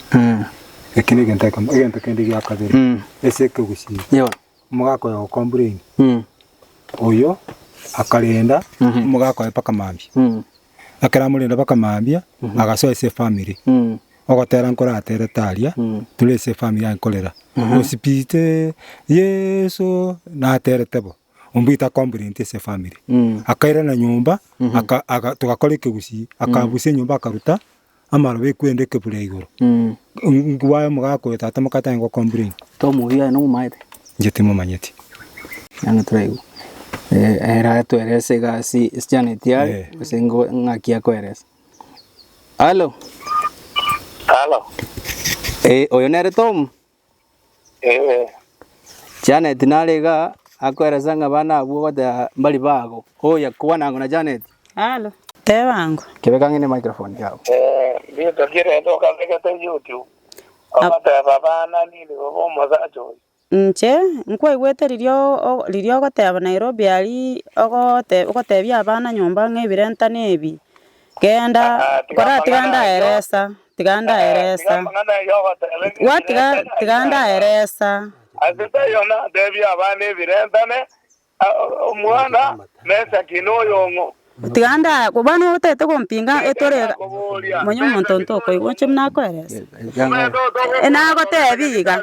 Eki negento ekemo. Egento kende gia kabere, ase ekegusii, omogaka oyo ogokomburenia, oyo akarenda omogaka oye mpaka mambia. ekero amorende baka mambia agasoa ase efamiri ogotera nkoratere taria tore ase efamiri aye nkorera osipite Yeso naterete bo ombwete akomburente ase efamiri akairana nyomba aka aka togakora ekegusii akabusia enyomba akaruta amaro bekwenda ekebura igoro. Nkobwaye omogaka oyo tata moka atanye go complain. Tomoiyo aye nomomanyete? Inche timomanyeti. Yaani turaigwa. Eh, era atueleze egasi esichana eti yari, Eh. ase ngo ng'aki akoeleze. Halo, Halo, eh, oyo nere Tom? Ee. Janet nare iga akoeresa ng'a abana abwo bateba mbari bago. Oya, kwana ang'o na Janet. Alo. Teba ang'o. Kebeka ng'ende microphone yao. Ee, rituko ki rende okabegete YouTube? Ogoteba abana nini bobe omosacha oyo? Inche nkwaigwete riria o, riria ogoteba Nairobi aria ogote, ogotebia abana nyomba ng'a ebirentano ebi Genda, kora tiga ndaeresa, tiga ndaeresa. Wa tiga, tiga ndaeresa. Ase taiona tebia abana ebirentane, omwana Mesaki noyong'o. Tiga nda, bono otagete gompinga etore iga, manya omonto ntokoigwa, inche buna nakoeresa. Nagotebia iga,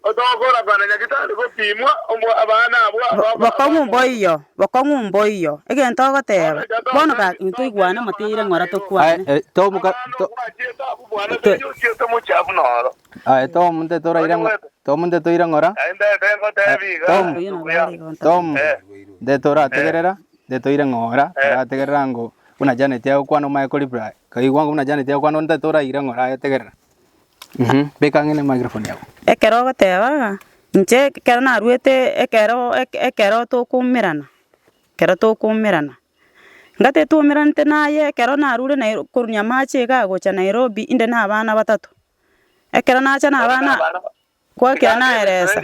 Otogokora kwana nyagitari gopimwa omwa abana abwo abamo abana Bokong'u abwo. mboiyo, bokong'u mboiyo, egento ogoteeba. Bono ga intoigwane moteire ng'ora tokwane. Aye tomuka Abana to obwachete abwo bwane to seria ochiete mochafu noro. aye tomunte toraire ng'o tomunte toire ng'ora Naende ebe ngotebi iga, Tom. Oyio nabo Nduguya. are gonta. Tom Eh. nde torategerera nde toire ng'ora Eh. torategerera ngo buna Janet agokwana omaye koreply kaigwa ngo buna Janet agokwana nte toraire ng'ora aye tegerera. Ekero ogoteba ng'a inche ekero naruete ekero eke ekero tokoumerana ekero tokoumerana, ngate twoumeranete naye ekero narure Nairobi korwa amache igaa gocha Nairobi inde na abana batato, ekero nacha na abana. Kwakira naeresa,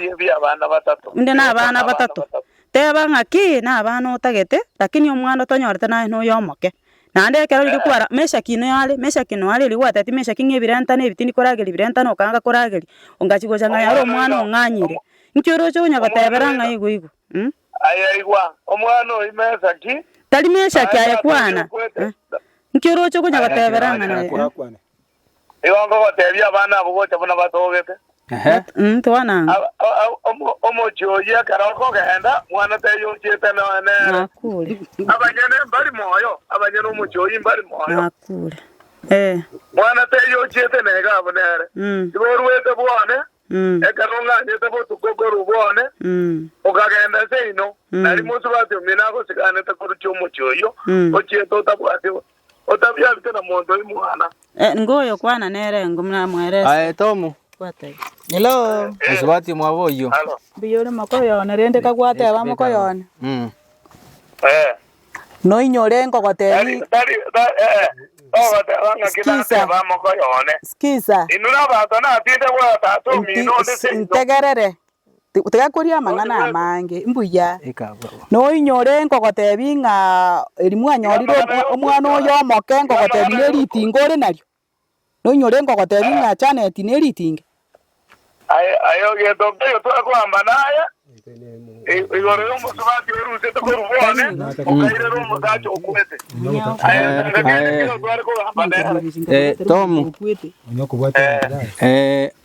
inde nabana batato. Teba ng'a ki nabana otagete, lakini omwana otonyorete naye noyo omoke. Naende ekero riria kwara, Meshaki inoe are, Meshaki inoe are, erio gwateti Meshaki ng'a ebirentana ebi tindi korageria, ebirentana okaanga korageria. Ongachia gocha ng'a yare omwana ong'anyire. Inki oroche onya gotebera ng'a igo igo? Umm. Aye igwa, omwana oyi Meshaki. Tari Meshaki aye kwana. Inki oroche onya gotebera ng'a naye? Nigo nkogoteebia abana abwo gocha buna batogete. Omochie oyio ekero okogenda, mwana taiyo ochiete nonya nere. Abanyene mbari moyo, abanyene omochie oyio mbari moyo. Mwana taiyo ochiete naiga abwo nere. Igo oruete bwone, ekero ong'anyete botuko korwa bwone, okagenda ase inwe, na rimo osubati omino agosigaanete koruchia omochie oyio ochiete otabwati Otabiarite na monto oi mwana. Nigo oyokwana nere engo namwerese. Aye Tom, nsubati omwabo oyio. Mbuya ore mokoyo one, rende kagwateba mokoyo one, noinye ore nkogotebia, Sikiisa, sikiisa, ntegerere. Tigakoria amang'ana amange mbuya. Noinyore nkogotebi ng'a eri mwanyorire omwana oyo omoke nkogotebi neritinga ore nario? Noinyore nkogotebi ng'a Janet neritinga? Aye ogento nkoiyo torakoamba naye igoro y'omosubati orutete korwa bwone, okairera omosacha okwete. Aye tanga kende kegokware kogaamba nere. Tom,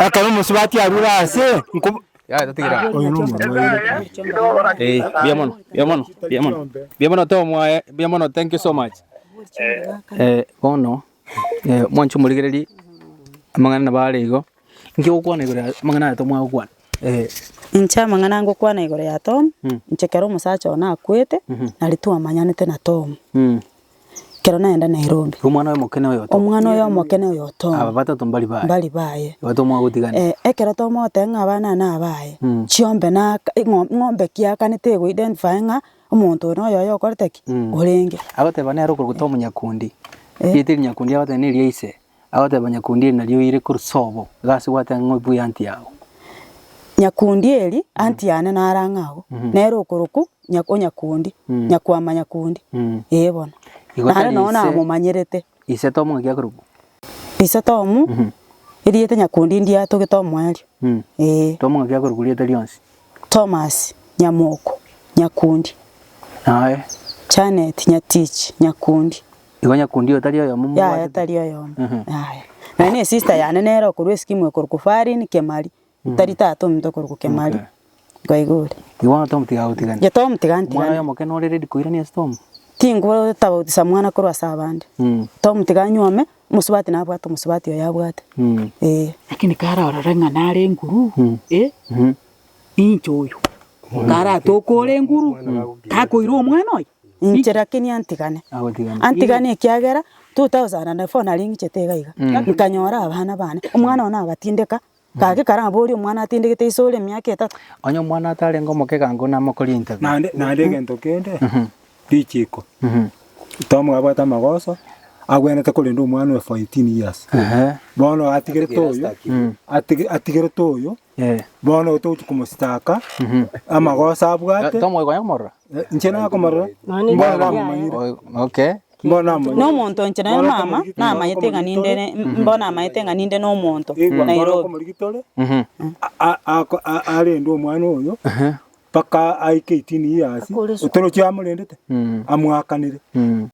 Ekero omosubati arure aase, nko- Oyo nomwana o Yetro. Eh, mbuya mono, mbuya mono, mbuya mono. Mbuya mono Tom, eh, mbuya mono, thank you so much. Eh, bono, eh, mwancha omorigereria amang'ana nabo are igo, inki ogokwana igoro ya amang'ana aya tomwagokwana? Eh, Inche amang'ana ngokwana igoro ya Tom, inche ekero omosacha oye nakwete, nari twamanyanete na Tom. mm. Ekero naenda Nairobi. Omwana oyomokene oyo otobe. Omwana oyomokene oyo otobe. Aba batato mbari baye. Mbari baye. Igo tomoa gotigana. Eh, ekero tomoa goteba ng'a abana ane abaye, mm. chiombe na ing'o, ng'ombe ki akanete ego identify ng'a omonto oyo noyoyo okorete ki, mm. orenge. Agoteba nere okorokota omonyakundi. Eh. Riete rinyakundi agoteba neri ya ise. Agoteba Nyakundieri, Narioire korwa sobo, egasi gwateba ng'a ng'oe buya anti yao. Nyakundieri, Anti yane nare ang'e agwo, nere okorokwa Nya- o Nyakundi, Nyakwama Nyakundi. Ee bono. Igo Nare tari nonya ise- namomanyerete. Ise Tom ng'aki akorokwa? Ise Tom, erieta Nyakundi ndie atogete omoerio. Ee. Tom ng'aki akorokwa rieta rionsi? Thomas, Nyamoko, Nyakundi. Naye? Janet, Nyatich, Nyakundi. Igo nyakundi oyo tari oyomo yaya mobwatete? tari oyomo Mhm. yaya naye ne sister yane nere okorwa esikimu ekorokwa farin kemari tari tata ominto okorokwa kemari Okay. kwaigure Igo bono Tom tiga agotigane. Ye Tom tiga antigane. Mwana oyomo kena ore ready koirania ase Tom. Tingotabautisa mwana korwa ase abande Mm. Tom tiga anyuome omosubati nabwate omosubati oyo abwate Mm. eh. Lakini kare orore ng'a nare enguru, eh? Mhm. Inche oyo, karatokoore enguru, takoira omwana oye. Inche lakini antigane, antigane ekiagera 2004 naring'ichete iga iga, nkanyora abana bane, omwana one agatindeka, gaki kare nabo oria omwana atindegete ise ore emiaka etato. Onye omwana atarenge omokegangoo namokoria interview. Naende naende egento kende, richiko, Tom abwate amagoso, agwenerete korenda omwana oye for 18 years, bono atigerete oyo, atige- atigerete oyo. Bono oyo togochia komositaka amagoso abwate. Inche nakomorora, mbono namomanyire. Nomonto inche nere mama namanyete ng'a ninde ere, mbono namanyete ng'a ninde nomonto Nairobi. arende omwana oyo mpaka aike eighteen years, otoroki amorendete, amwakanire.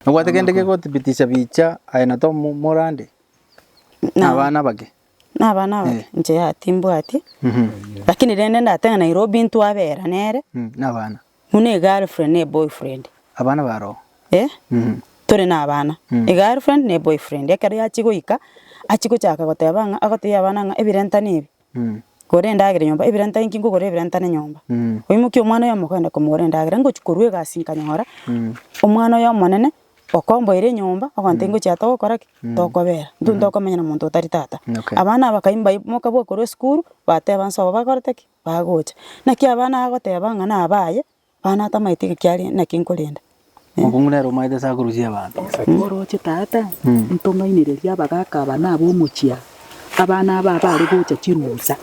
Nobwate kende gekothibitisha bicha aye na Tom more ande? Abana abake? Nabana abake inche yaya timbwati, lakini rende ndatee ng'a Nairobi intwe abera nere, Mm, nabana. buna egirlfriend na eboyfriend. Abana baroo. Eh, Mhm. tore na abana, egirlfriend na eboyfriend, ekero yachia goika, achia gochaka goteba ng'a, agotebia abana ng'a ebirentano ebi, Mm. gora endagera nyomba, ebirentano inki nkogora ebirentano nyomba. Mm. Oimokie omwana oyomo ogende komogorera endagera, ngochia korwa egasi nkanyora, omwana oyo omonene, Okomboira enyomba, ogonta ingochia togokora ki? Tokobera. Intwe ntokomenya na monto otari tata. Okay. Abana bakaim baimoka bwa korwa esukuru, bateba nse obo bakorete ki? Bagocha. Naki abana agoteba ng'a nabaye, abana atamanyeti ng'a kiaria naki nkorenda. Mokong'u nere omanyete ase akorusia abanto. Ekero oroche tata, ntomainereria abagaka aba na ab'omochie aa, abana aba bare gocha chirusa.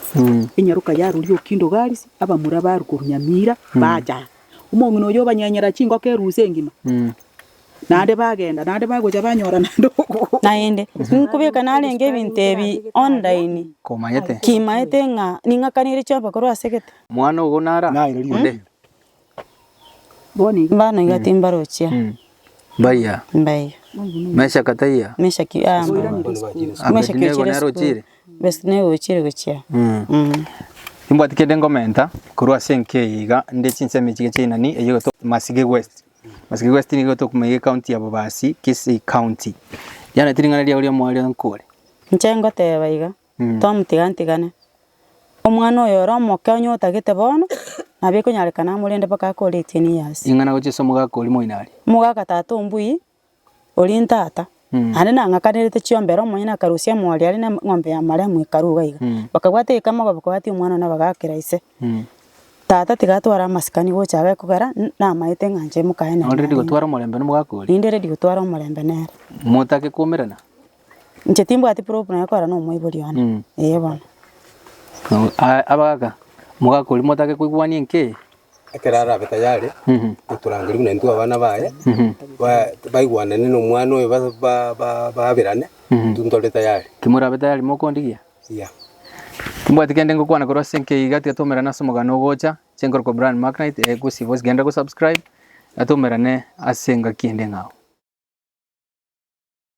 Enyaroka yarurire okindo Garisi, abamura barwa korwa Nyamira, bacha aa. Omong'ina oyio obanyenyera chingoko eruusu engima. Naende bagenda, naende bagocha banyora naende obogogoki. Naende, nkobeka narenge ebinto ebi online, Komanyete. kimaete ng'a ning'akanire chiombe korwa ase gete. Omwana ogo nara onde? Bono iga. Mbano iga timbarochia. Mbaiya. Mbaiya. Meshaki taiya. Meshaki, ah, Abedinego naro ochire? Best nigo gochire gochia. Timbwati kende ngomenta korwa ase enka eye iga nde chinsemo echi geche inani eye egoitwa Masige West. Masige West nigo egoitwa Kuma iga ecounty ya Bobasi, Kisii County. Riana ti ring'ana riao ri'omoyo riria nkore. Inche ngoteba iga, tomotiga ntigane. Omwana oyo ore omoke onye otagete bono, nabo ekonyarekana amorende mpaka ake o eighteen years. Ing'ana gochia ase omogaka oria moino aria. Omogaka tata o Mbui, Oria intata, naende nang'akanerete chiombera, omonyene akarusia emori aria na eng'ombe ya maremu ekaru iga iga. Bakabwata egeka amagobi kobatia omwana one bagakera ise. Tata tiga atware amasikani gocha abe kogera n- namaete ng'a inche mokaye nere. Nore ready gotwara omorembe na omogaka oria. Ninde ready gotwara omorembe nere. Motake koumerana. Inche timbwati proof naye korana omoibori one. Mm. Ee bono. No, a- abagaka mogakori motake koigwania enke ekero arabe tayari Mhm. goturangeri buna intwe abana baye Mhm. ba- baigwanane na omwana oyo ba- ba- ba- baberane Mhm. intwe ntore tayari kimorabe tayari mokondigia ya timbwati kende ngokwana korwa ase enke iga tiga twaumerane ase omogano ogocha chenkorokwa Brian Macknight eh, gosi bosi genda go subscribe na twaumerane ase engaki ende ng'ao